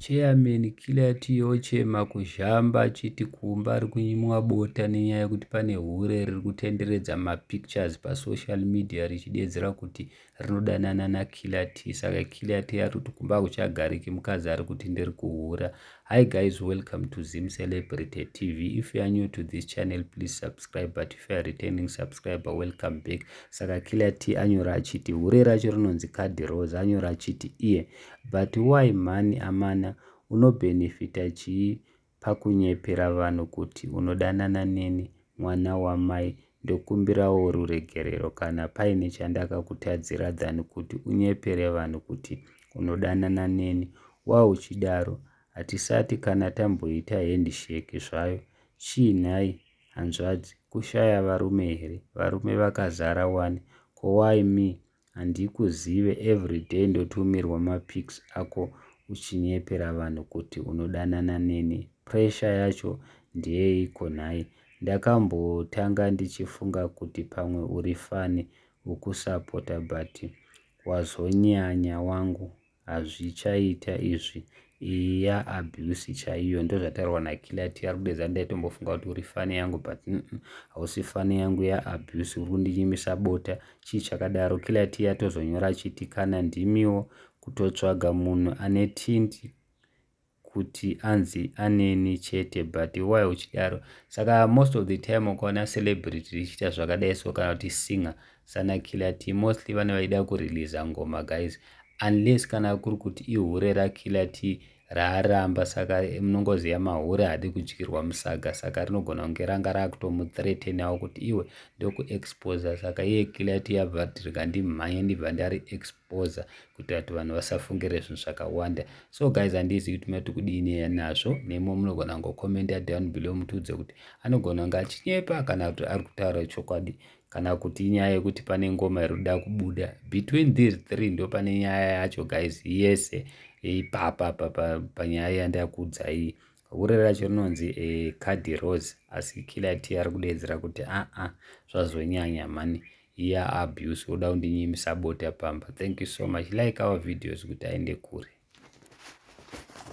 Chairman killer yati yochema kuzhamba achiti kumba ari kunyimwa bota nenyaya yekuti pane hure riri kutenderedza mapictures pasocial media richideedzera kuti rinodanana nakiller t saka killer t ari kuti kumba hakuchagariki mukadzi ari kuti ndiri kuhura hi guys welcome to zim celebrity tv if you are new to this channel please subscribe but if you are returning subscriber welcome back saka killer t anyora achiti hure racho rinonzi kadhi rose anyora achiti iye yeah. but why mhani amana unobenefita chii pakunyepera vanhu kuti unodanana neni mwana wamai ndokumbirawo ruregerero kana paine chandakakutadzira than kuti unyepere vanhu kuti unodanana neni wauchidaro hatisati kana tamboita handshake zvayo chii nhai hanzvadzi kushaya varume here varume vakazara wani ko why me Handikuzive everyday ndotumirwa mapics ako uchinyepera vanhu kuti unodanana neni pressure yacho ndeyeiko nhai ndakambotanga ndichifunga kuti pamwe uri funny ukusapota but wazonyanya wangu Hazvichaita izvi iya abuse chaiyo ndozvataurwa nakiller ti ari kudedza ndaitombofunga kuti uri fani yangu but hausi fani yangu ya abuse uri kundinyimisa bota chii chakadaro killer ti yatozonyora chiti kana ndimiwo kutotsvaga munhu ane tindi kuti anzi aneni chete but why uchidaro saka most of the time ukaona celebrity richiita zvakadai so kana kuti singer sana killer t mostly vane vaida kureleasa ngoma guys unless kana kuri kuti ihure rakiller t raaramba saka munongoziva mahure hadi kudyirwa musaga saka rinogona kunge ranga raakutomuthreatenawo kuti iwe ndokuexposa saka iye killer t yabva rikandimhanya ndibva ndari expo kupoza kuitira kuti vanhu vasafungire zvinhu zvakawanda so guys handizivi kuti mati kudii nazvo nemo munogona kungokomenda down below mutiudze kuti anogona kunge achinyepa kana kuti ari kutaura chokwadi kana kuti inyaya yekuti pane ngoma iri kuda kubuda between these three ndo pane nyaya yacho guys yese ipapa panyaya yandakuudzai Hure racho rinonzi eh, Cadi Rose asi killer tea ari kudeedzera kuti aa ah, ah, zvazonyanya mhani iya abuse woda kundinyimisa bota pamba. Thank you so much. Like our videos kuti aende kure.